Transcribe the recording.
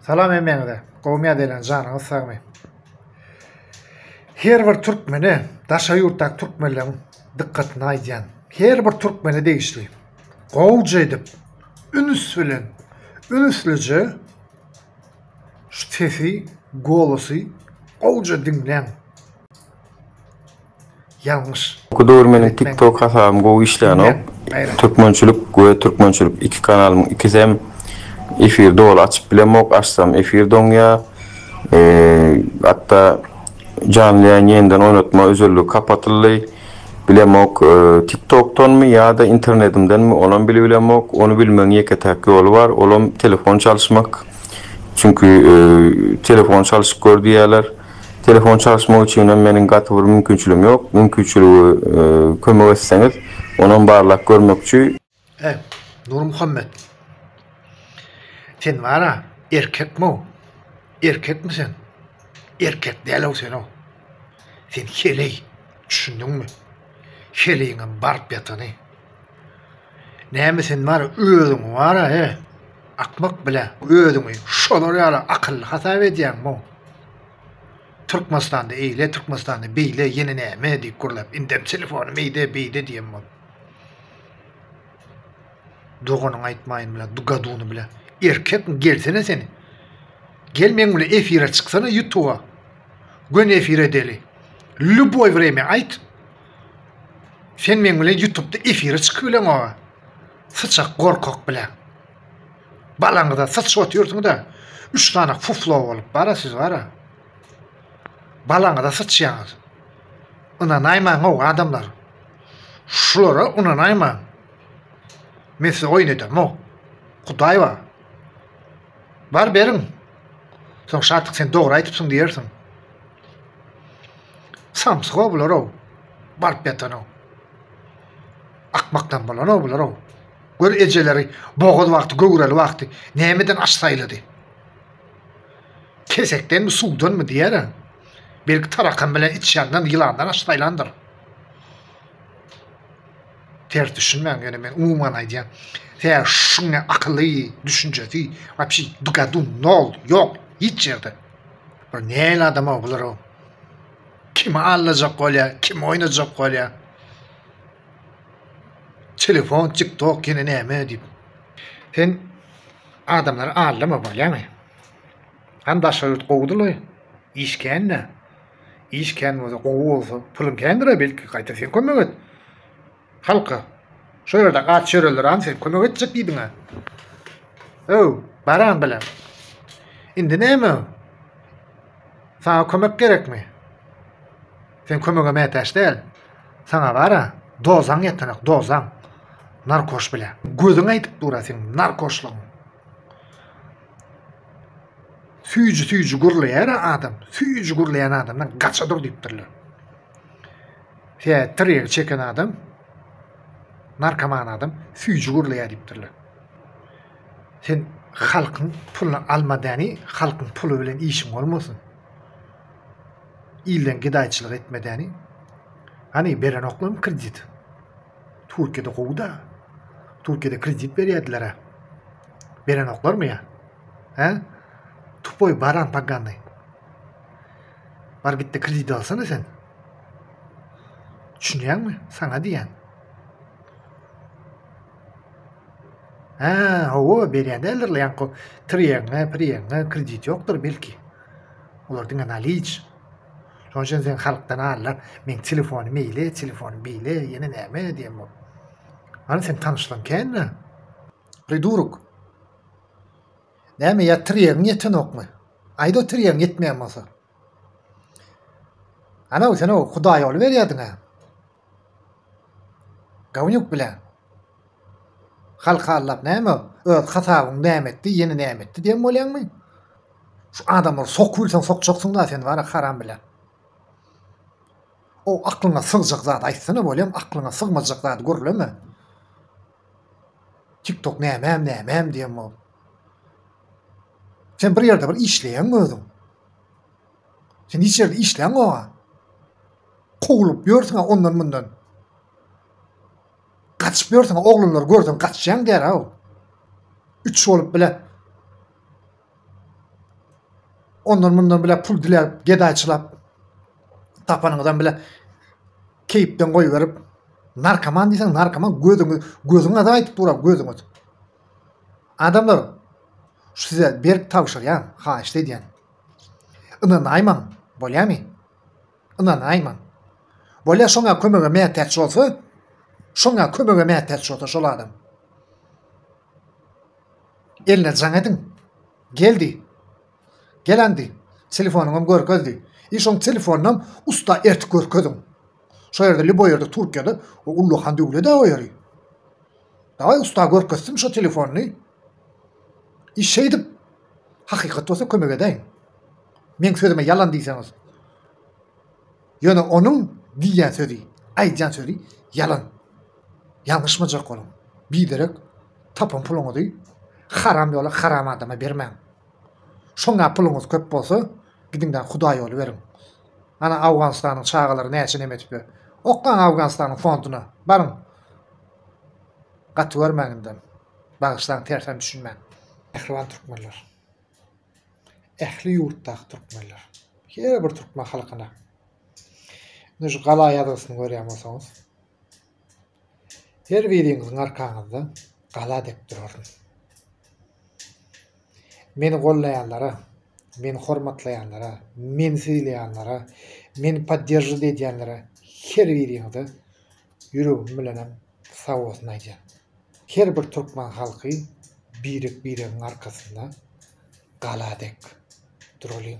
Salam hemmäňize. Gowmy ýadaýlaň janyňyz sagmy. Her bir türkmene daşary ýurtdaky türkmenleriň dykgatyny aýdýan. Her bir türkmene degişli. Gowja edip ünüs bilen ünüslije şu sesi, golosy gowja diňläň. Ýalňyş. Gudur meniň tik tok hasabym gowy işlänok türkmençilik we türkmençilik iki kanalymyň ikisem efir doly açyp bilemok açsam efir doňýa hatda janly ýaýyn ýeniden oýnatma özelligi kapatyldy bilemok tik tokdanmy ýada internedimdenmi onam bilip bilemok ony bilmegiň ýeke täk ýoly bar olam telefon çalyşmak çünki telefon çalyşyp gör diýýäler. Telefon çalyşmak üçinem meniň gaty bir mümkinçiligim ýok. Mümkinçiligi kömek etseňiz, onam barlap görmekçi. He, Nurmuhammet. Sen bar-a, erkekmi-ow? Erkekmi sen? Erkek däl-ow sen-ow. Sen heleý, düşündiňmi? Heleýiňem baryp ýatany. Näme sen bar özüňi wara he akmak bile özüňi şolar ýaly akylly hasap edýäň mu? Türkmenistanda eýle Türkmenistanda beýle ýene näme diýip gürläp indem telefony meýde beýde diýen bol. Doganyňy aýtmaýyn bile du gaduny bile erkek mi gelsene sen gel meň bile efire çyksana ýutuba gön efire deli lýuboý wremýa aýt Sen meň bilen ýutupda efire çykyp bileň oa. Syçak gorkak bilen. Balaňyza syçyp otyrsyňda üç sany fuflo bolup bara siz bara. Balaňyza syçýaňyz. Ynanaýmaň oa adamlar. Şulara ynanaýmaň. Men size oýun ederim oa. Hudaý bar. Bar beriň. Soň Şatyk sen dogry aýdypsyň diýersiň. Samsyk-ow bular-ow, baryp ýatan-ow. Akmakdan bolan-ow bular-ow. Gör ejeleri bogaz wagty, göwreli wagty nämeden aç saýlady. Kesekdenmi, suwdanmy diýer-ä. Belki tarakan bilen içýandan, ýylandan aç saýlandyr. Ters düşünmäň ýöne men umuman aýdýan. Tä şuň ne akyly, düşünjesi, wapşi dugadu nol, ýok, hiç ýerde. Bir näl adam o bular o. Kimi allajak bolýa, kim oýnajak bolýa. Telefon, TikTok ýene näme diýip. Sen adamlary allama bolýamy? Han daşary ýurt gowudyly, işkände, Iş kän bolsa, gowy bolsa, pulyň kändir-ä belki, gaýta sen kömek et. Halka. Şo ýerde aç ýöreler an sen kömek etjek diýdiň-ä. Öw, baran bilen. Indi näme? Saňa kömek gerekmi? Sen kömege mätäç däl. Saňa bara dozaň ýetenek, dozaň. Narkoş bilen. Gözüň aýdyp dur-a seň narkoşlygyň. Süýji süýji gürleýär adam, süýji gürleýän adamdan gaça dur diýipdirler. Tä tirýegi çeken adam, narkoman adam süýji gürleýär diýipdirler. Sen halkyň puluny alma däni, halkyň puly bilen işiň bolmasyn. Ilden gedaýçylyk etme däni. Hany berenoklarmy kredit? Türkiýede gowuda. Türkiýede kredit berýärdiler-ä. Berenoklarmy ýa? He? Tupoý baran pagany. Bar gitde kredit alsana sen. Düşünýäňmi? Saňa diýýän. He, hawa, berýän däldirler, ýaňky triýeňe, priýeňe kredit ýokdur belki. Olar diňe naliç. Şonuň üçin sen halkdan allar, meň telefony meýle, telefony beýle, ýene näme diýen bol. Hany sen tanyşlaň kände? Priduruk. Näme ýatyr ýeriň ýetenokmy? Aýda otur ýeriň ýetmeýän bolsa. Ana sen o Hudaý ýoly berýärdiň-ä. Gonýuk bile. Halky aldap näme öz hasabyň näme etdi ýene näme etdi diýen bolýaňmy? Şu adamlary sokup bilseň sokjaksyň da sen wara haram bile. O aklyňa sygjak zat aýtsana bolýam aklyňa sygmajak zat gürleme. Tik tok nämem nämem diýen bolup. Sen bir ýerde bir işleýäňmi özüň? Sen hiç ýerde işläňoga. Kowlup ýörsüň-ä ondan-mundan. Gaçyp ýörsüň, oglanlary görseň gaçýaň derrew. Üç bolup bile ondan-mundan bile pul diläp, gedaýçylap, tapanyňyzdan bile keýpden goýberip, narkoman diýseň narkoman gözüňi gözüňe de aýdyp durar gözüňe. Adamlar şu size berip tabşyrýan, haýyşt edýän. Ynanaýmaň, bolýamy? Ynanaýmaň. Bolýa şoňa kömege mätäç bolsa, şoňa kömege mätäç bolsa şol adam. Eline jaň ediň. Geldi. Gelandi. Telefonyňam görkezdi. I şoň telefonynam usta ertip görkeziň. Şo ýerde lýuboý ýerde Türkiýede o ullakan döwlet-ä o ýeri. Dawaý usta görkezsin şo telefonyny. Iş şeýdip, hakykat bolsa kömek edäýiň. Meň sözüme ýalan diýseňiz. Ýöne onuň diýýän sözi, aýdýan sözi ýalan. Ýalňyşmajak boluň. Biderek tapan puluňyzy haram ýola, haram adama bermäň. Şoňa puluňyz köp bolsa, gidiň-de hudaý ýoly beriň. Ana Awganystanyň çagalary näçe neme edipdir. Oklaň Awganystanyň fonduna, baryň. Gaty görmäň indem. Bagyşlaň tersen düşünmän. Mähriban Türkmenler. Ähli ýurtdaky Türkmenler. Her bir Türkmen halkyna. Indi şu gala ýazgysyny görýän bolsaňyz. Her biriňiziň arkaňyzda gala dek duraryn. Meni gollaýanlara, meni hormatlaýanlara, meni sylaýanlara, meni podderžit edýänlere her biriňize Ýüregim bilenem sag bolsun aýdýan. Her bir türkmen halky birek biregiň arkasynda gala dek duralyň.